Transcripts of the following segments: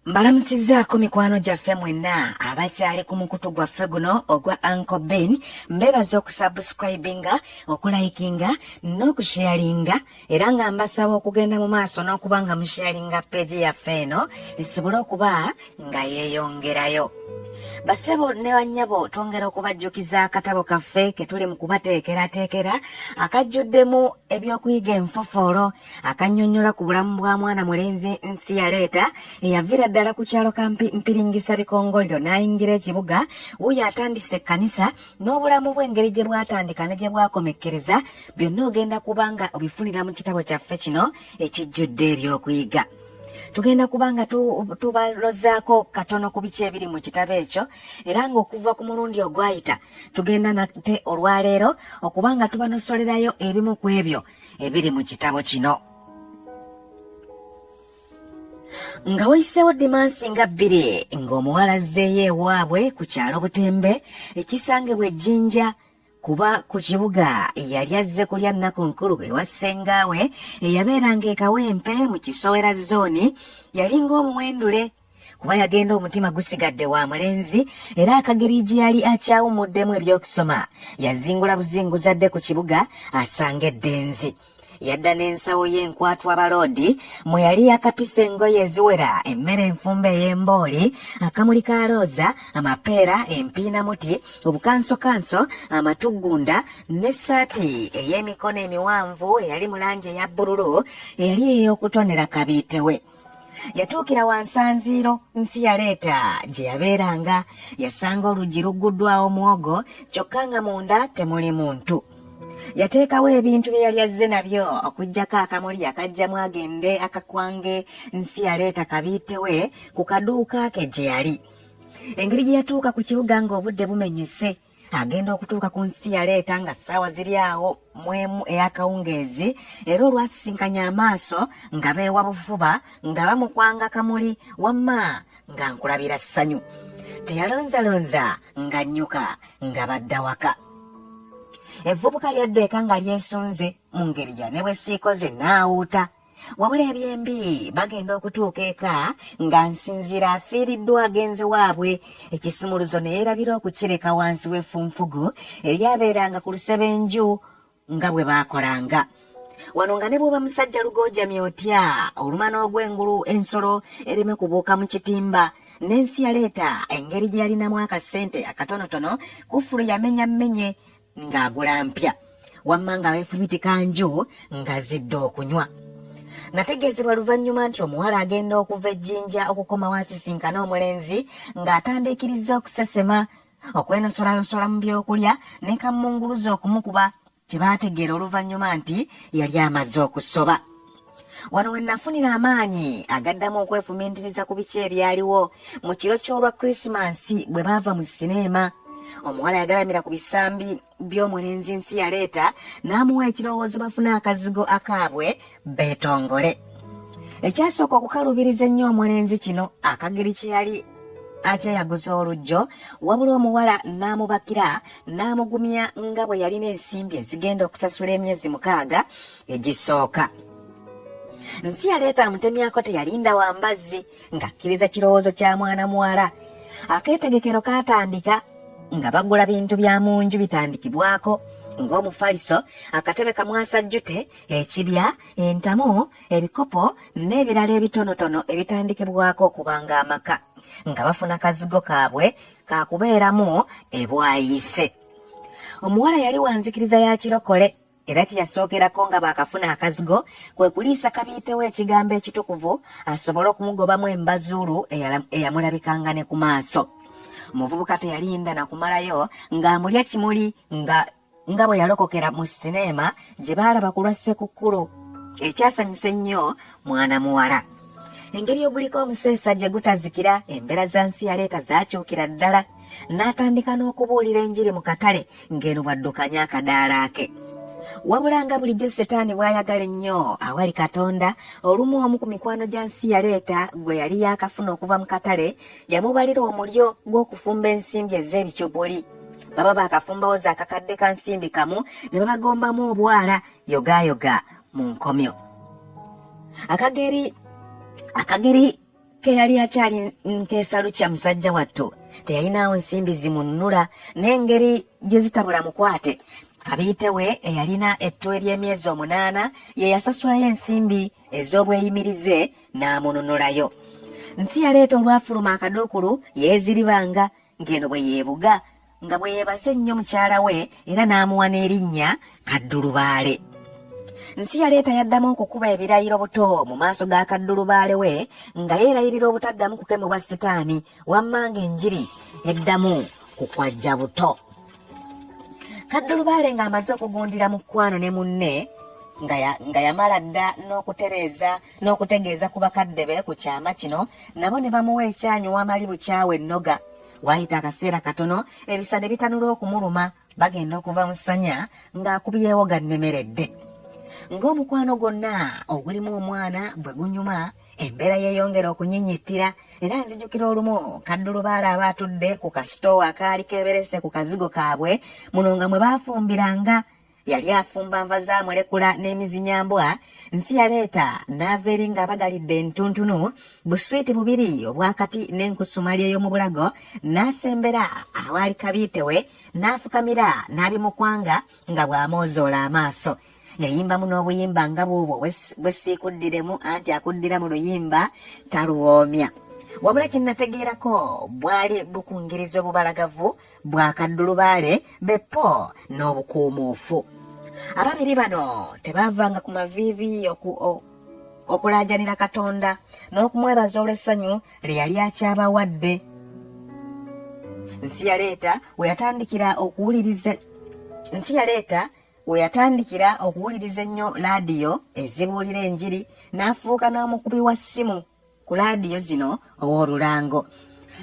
mbalamusizzaako mikwano gyaffe mwenna abakyali ku mukutu gwaffe guno ogwa anco ben mbeebaza okusubscribinga okulayikinga n'okusheyalinga era nga mbasaba okugenda mu maaso n'okuba nga musheyalinga peegi yaffe eno esobole okuba nga yeeyongerayo basebo ne bannyabo twongera okubajjukiza akatabo kaffe ke tuli mu kubateekerateekera akajjuddemu ebyokuyiga enfofoolo akannyonnyola ku bulamu bwa mwana mulenzi nsi yaleeta eyaviira ddala ku kyalo ka mpiringisa bikongoliro n'ayingira ekibuga wuyo atandise ekkanisa n'obulamu bw'engeri gye bwatandika ne gye bwakomekkereza byonna ogenda kuba nga obifunira mu kitabo kyaffe kino ekijjudde ebyokuyiga tugenda kuba nga tubalozaako katono ku biki ebiri mu kitabo ekyo era ng'okuva ku mulundi ogwayita tugenda nate olwaleero okuba nga tubanosolerayo ebimu ku ebyo ebiri mu kitabo kino nga wayiseewo dimansi nga bbiri ng'omuwala azzeeyo ewaabwe ku kyalo butembe ekisangibwa ejjinja kuba ku kibuga yali azze kulya nnaku nkulu ewa ssengaawe eyabeeranga ekawempe mu kisowera zooni yali ng'omuwendule kuba yagenda omutima gusigadde wa mulenzi era akageri gye yali akyawumuddemu eby'okusoma yazingula buzinguzi adde ku kibuga asanga eddenzi yadda n'ensawo y'enkwatu abaloodi mwe yali yakapisa engoye eziwera emmere enfumba ey'embooli akamuli ka looza amapeera empiinamuti obukansokanso amatuggunda n'essaati ey'emikono emiwanvu eyali mu langi eya bbululu eyali ey'okutonera kabiitewe yatuukira wansanziiro nsi yaleeta gye yabeeranga yasanga oluggi lugguddwawo mwogo kyokka nga munda temuli muntu yateekawo ebintu bye yali azze nabyo okuggyako akamuli akajjamu agende akakwange nsi yaleeta kabiitewe ku kaduuka ke gye yali engeri gye yatuuka ku kibuga ng'obudde bumenyese agenda okutuuka ku nsi yaleeta nga ssaawa ziri awo mwemu ey'akawungeezi era olwasisinkanya amaaso nga beewa bufuba nga bamukwanga kamuli wamma nga nkulabira ssanyu teyalonzalonza nga nnyuka nga badda waka evvubuka lyaddeeka nga lyesunze mu ngeri ya ne bwe siikoze naawuuta wabula ebyembi bagenda okutuuka eka nga nsinziira afiiriddwa agenze waabwe ekisumuluzo ne yeerabira okukireka wansi w'effunfugu eryabeeranga ku lusebenju nga bwe baakolanga wano nga ne bw'oba musajja lugoojamye otya oluma n'ogw'engulu ensolo ereme kubuuka mu kitimba n'ensi yaleeta engeri gye yalinamu akasente akatonotono kufulu yamenyammenye ng'agula mpya wamma nga beefumitika nju nga zidde okunywa nategeezebwa luvannyuma nti omuwala agenda okuva ejjinja okukomawo asisinkana omulenzi ng'atandiikirizza okusesema okwenosolayosola mu byokulya ne kammunguluza okumukuba kye baategeera oluvannyuma nti yali amaze okusoba wano we nafunira amaanyi agaddamu okwefumintiriza ku biki ebyaliwo mu kiro ky'olwa krisimansi bwe baava mu sineema omuwala yagalamira ku bisambi by'omulenzi nsi yaleeta n'amuwa ekirowoozo bafune akazigo akaabwe beetongole ekyasooka okukalubiriza ennyo omulenzi kino akageri kye yali akyeyaguza olujjo wabula omuwala n'amubakira n'amugumya nga bwe yalina ensimbi ezigenda okusasula emyezi mukaaga egisooka nsi yaleeta amutemyako teyalinda wa mbazzi ng'akkiriza kirowoozo kya mwana muwala akeetegekero kaatandika nga bagula bintu bya mu nju bitandikibwako ng'omufaliso akatebe kamwasajjute ekibya entamu ebikopo n'ebirala ebitonotono ebitandikibwako okubanga amaka nga bafuna kazigo kaabwe kakubeeramu ebwayise omuwala yali wanzikiriza ya kirokole era kye yasookerako nga baakafuna akazigo kwe kuliisa kabiitewo ekigambo ekitukuvu asobole okumugobamu embazuulu eyamulabikanga ne ku maaso omuvubuka teyalinda na kumalayo ng'amulya kimuli nga nga bwe yalokokera mu sineema gye baalaba ku lwa ssekukkulu ekyasanyusa ennyo mwana muwala engeri oguliko omuseesa gye gutazikira embeera za nsi yaleeta zaakyukira ddala n'atandika n'okubuulira enjiri mu katale ng'eno bw'addukanya akadaala ke wabula nga bulijjo setaani bw'ayagala ennyo awali katonda olumu omu ku mikwano gya nsi yaleeta gwe yali yaakafuna okuva mu katale yamubalira omulyo gw'okufumba ensimbi ez'ebicupuli baba baakafumbawo za kakadde ka nsimbi kamu ne babagombamu obwala yogaayoga mu nkomyo akageri akageri ke yali akyali nteesa lukya musajja wattu teyalinaawo nsimbi zimunnula n'engeri gye zitabula mukwate kabiite we eyalina ettu ery'emyezi omunaana ye yasasulayo ensimbi ez'obweyimirize n'amununulayo nsi yaleeta olwafuluma akaduukulu yeeziribanga ng'eno bwe yeebuga nga bwe yeebaza ennyo mukyala we era n'amuwa n'erinnya kaddulubaale nsi yaleeta yaddamu okukuba ebirayiro buto mu maaso ga kaddulubaale we nga yeerayirira obutaddamu kukemebwa sitaani wamma ng'enjiri eddamu ku kwajja buto kaddulubaale ng'amaze okugundira mu kkwano ne munne nga yamala dda n'okutereeza n'okutegeeza ku bakadde be ku kyama kino nabo ne bamuwa ekyanyu wamali bukyawe ennoga waayita akaseera katono ebisa ne bitanula okumuluma bagenda okuva mu ssanya ng'akubyewo gannemeredde ng'omukwano gwonna ogulimu omwana bwe gunyuma embeera yeeyongera okunyinyittira era nzijukira olumu kaddulubaala aba atudde ku kasitoowa akaali keeberese ku kazigo kaabwe muno nga mwe baafumbiranga yali afumba nva za mulekula n'emizinyambwa nsi yaleeta n'ava eri ng'abagalidde entuntunu buswiiti bubiri obwakati n'enkusumali ey'omu bulago n'asembera awaali kabiite we n'afukamira n'abimukwanga nga bw'amoozoola amaaso yayimbamu n'obuyimba nga buubwo bwe siikuddiremu anti akuddira mu luyimba taluwoomya wabula kye nategeerako bwali bukungiriza obubalagavu bwakaddulubaale be po n'obukuumuufu ababiri bano tebaavanga ku maviivi oku okulaajanira katonda n'okumwebaza olw'essanyu lye yali akyabawadde nsi yaleeta we yatandikira okuwuliriza nsi yaleeta we yatandikira okuwuliriza ennyo laadiyo ezibuulira enjiri n'afuuka n'omukubi wa ssimu ku laadiyo zino ow'olulango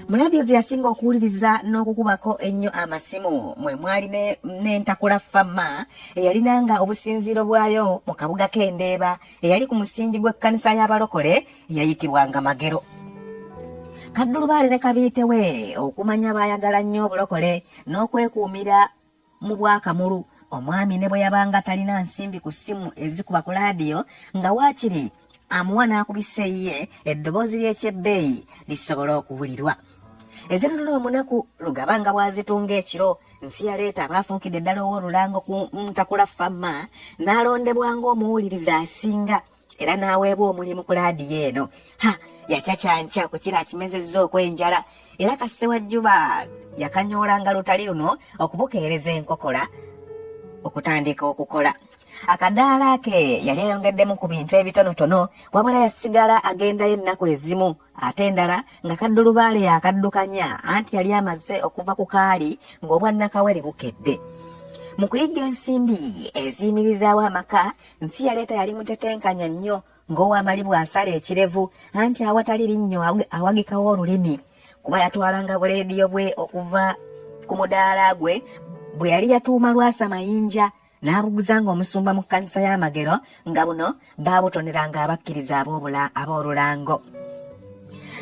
mu laadiyo ze yasinga okuwuliriza n'okukubako ennyo amasimu mwe mwali n'entakula fama eyalinanga obusinziiro bwayo mu kabuga k'endeeba eyali ku musingi gw'ekkanisa y'abalokole eyayitibwanga magero kaddulubaale ne kabiite we okumanya baayagala nnyo obulokole n'okwekuumira mu bwakamulu omwami ne bwe yabanga talina nsimbi ku ssimu ezikuba ku laadiyo nga waakiri amuwa n'akubisa eyiye eddoboozi ly'ekyebbeeyi lisobola okuwulirwa ezinunula omunaku lugaba nga bw'azitunga ekiro nsi yaleeta abaafuukidde ddala ow'olulango ku ntakula famma n'alondebwa ng'omuwuliriza asinga era n'aweebwa omulimu ku laadiyo eno ha yacacanca ku kira akimezezza okw'enjala era kasse wa juba yakanyoolanga lutali luno okubukeereza enkokola okutandika okukola akadaala ke yali ayongeddemu ku bintu ebitonotono wabula yasigala agendayo ennaku ezimu ate endala nga kaddulubaale yakaddukanya anti yali amaze okuva ku kaali ng'obwannakawere bukedde mu kuyigga ensimbi eziyimirizaawo amaka Nsi yaleeta yali mutetenkanya nnyo ng'owamali bw'asala ekirevu anti awatali linnyo awagikawo olulimi kuba yatwalanga buleediyo bwe okuva ku mudaala gwe bwe yali yatuuma lwasa mayinja n'abuguza ng'omusumba mu kkanisa y'amagero nga buno baabutoneranga abakkiriza ab'obula ab'olulango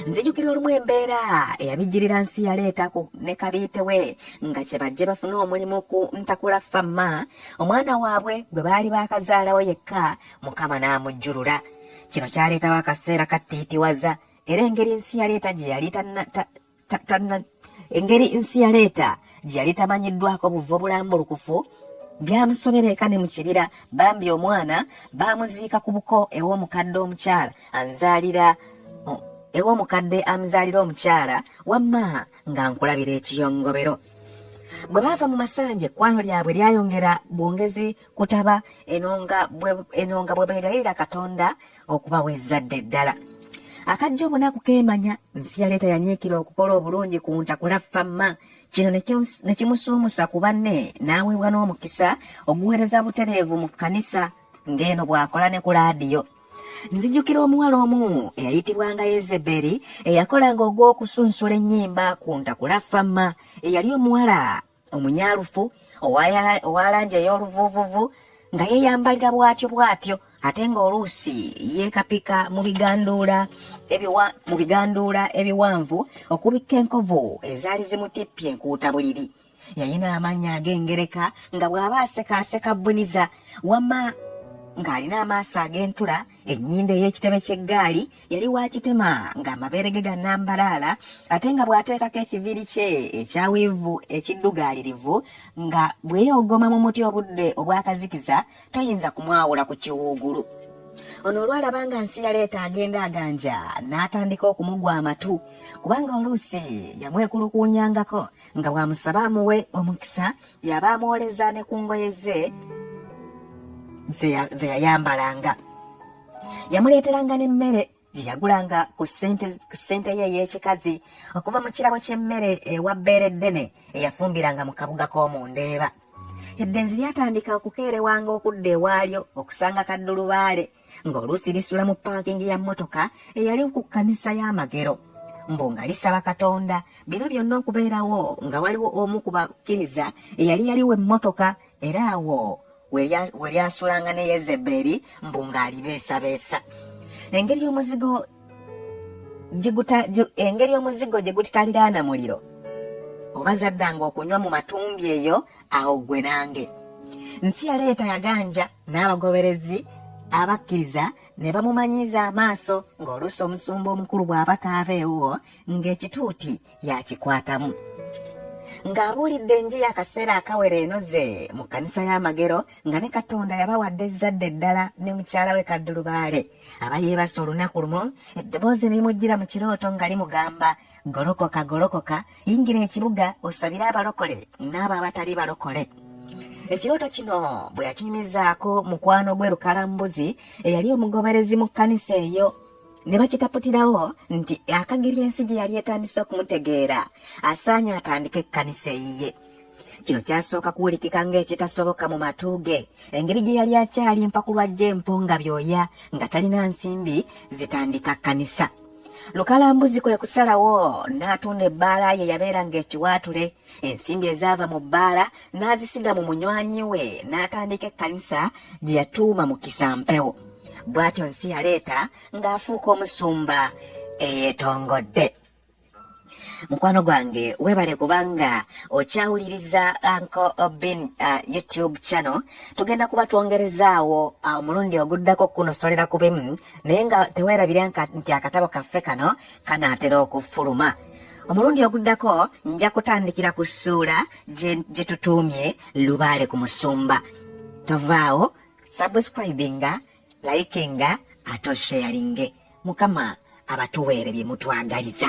nzijukira olumu embeera eyabijjirira nsi yaleeta ku ne kabiite we nga kye bajje bafune omulimu ku ntakula fama omwana waabwe gwe baali baakazaalawo yekka mukama n'amujjulula kino kyaleetawo akaseera kattiitiwaza era engeri nsi yaleeta gye yali engeri nsi yaleeta gye yali tamanyiddwako buva obulambulukufu byamusobera eka ne mu kibira bambi omwana baamuziika ku buko ew'omukadde omukyala anzaalira ew'omukadde amuzaalira omukyala wamma nga nkulabira ekiyongobero bwe baava mu masanje ekwano lyabwe lyayongera bwongezi kutaba enonga bwe beegayirira katonda okubawa ezzadde ddala akajja obunaku keemanya nsi yaleeta yanyiikira okukola obulungi ku ntakula famma kino ne kimusuumusa ku banne n'aweebwa n'omukisa oguweereza butereevu mu kkanisa ng'eno bw'akola ne ku laadiyo nzijukira omuwala omu eyayitibwanga yezeberi eyakolanga ogw'okusunsula ennyimba ku ntakula fama eyali omuwala omunyalufu owa langi ey'oluvuuvuvu nga yeeyambalira bwatyo bwatyo ate ng'oluusi yeekapika mu biganduula mu biganduula ebiwanvu okubikka enkovu ezaali zimutippye enkuuta buliri yalina amaanyi ag'engereka nga bw'aba aseka aseka bbuniza wamma ng'alina amaaso ag'entula ennyindo ey'ekitebe ky'eggaali yali wa kitema ng'amabeere ge gannambalaala ate nga bw'ateekako ekiviiri kye ekya wiivu ekiddugaalirivu nga bweyogoma mu muti obudde obw'akazikiza toyinza kumwawula ku kiwuugulu ono olwalaba nga nsi yaleeta agenda aganja n'atandika okumugwa amatu kubanga oluusi yamwekulukuunyangako nga bw'amusaba amuwe omukisa yaba amwoleza ne ku ngoye ze ze yayambalanga yamuleeteranga n'emmere gye yagulanga ku ssente ye ey'ekikazi okuva mu kirabo ky'emmere ewa bbeere ddene eyafumbiranga mu kabuga k'omu ndeeba eddenzi lyatandika okukeerewanga okudda ewaalyo okusanga kaddulubaale ng'oluusi lisula mu paakingi ya mmotoka eyali ku kkanisa y'amagero mbu nga lisaba katonda bino byonna okubeerawo nga waliwo omu ku bakkiriza eyali yaliwo emmotoka era awo we lyasulanga ne yezebeeri mbu ng'alibeesabeesa engeri omuzigo engeri omuzigo gye gutitaliraana muliro oba zaddanga okunywa mu matumbi eyo awo ggwe nange nsi yaleeta yaganja n'abagoberezi abakkiriza ne bamumanyiiza amaaso ng'oluusi omusumba omukulu bw'aba taabeewo ng'ekituuti yakikwatamu ng'abuulidde enjiri akaseera akawera enoze mu kkanisa y'amagero nga ne katonda yabawadde ezzadde eddala ne mukyala we kaddulubaale aba yeebasa olunaku lumu eddoboozi nerimujjira mu kirooto nga limugamba golokoka golokoka yingira ekibuga osabire abalokole n'abo abatali balokole ekirooto kino bwe yakinyumizaako mukwano gwe lukalambuzi eyali omugoberezi mu kkanisa eyo ne bakitaputirawo nti akageri ensi gye yali etandise okumutegeera asaanye atandike ekkanisa eyiye kino kyasooka kuwulikika ng'ekitasoboka mu matu ge engeri gye yali akyali empakulwa gy'empo nga byoya nga talina nsimbi zitandika kkanisa lukalambuzi kwe kusalawo n'atunda ebbaala ye yabeeranga ekiwaatule ensimbi ezaava mu bbaala n'azisiga mu munywanyi we n'atandika ekkanisa gye yatuuma mu kisampewo bw'atyo nsi yaleeta ng'afuuka omusumba eyeetongodde mukwano gwange webale kubanga okyawuliriza anko obin uh, youtube channel tugenda kuba twongerezaawo uh, omulundi uh, oguddako okukunosolera ku bimu naye nga tewerabire nti akatabo kaffe kano kanaatera okufuluma omulundi oguddako nja kutandikira ku ssuula gye tutuumye lubaale ku musumba tovaawo subscribinga like nga ate osharinge mukama abatuweere bye mutwagaliza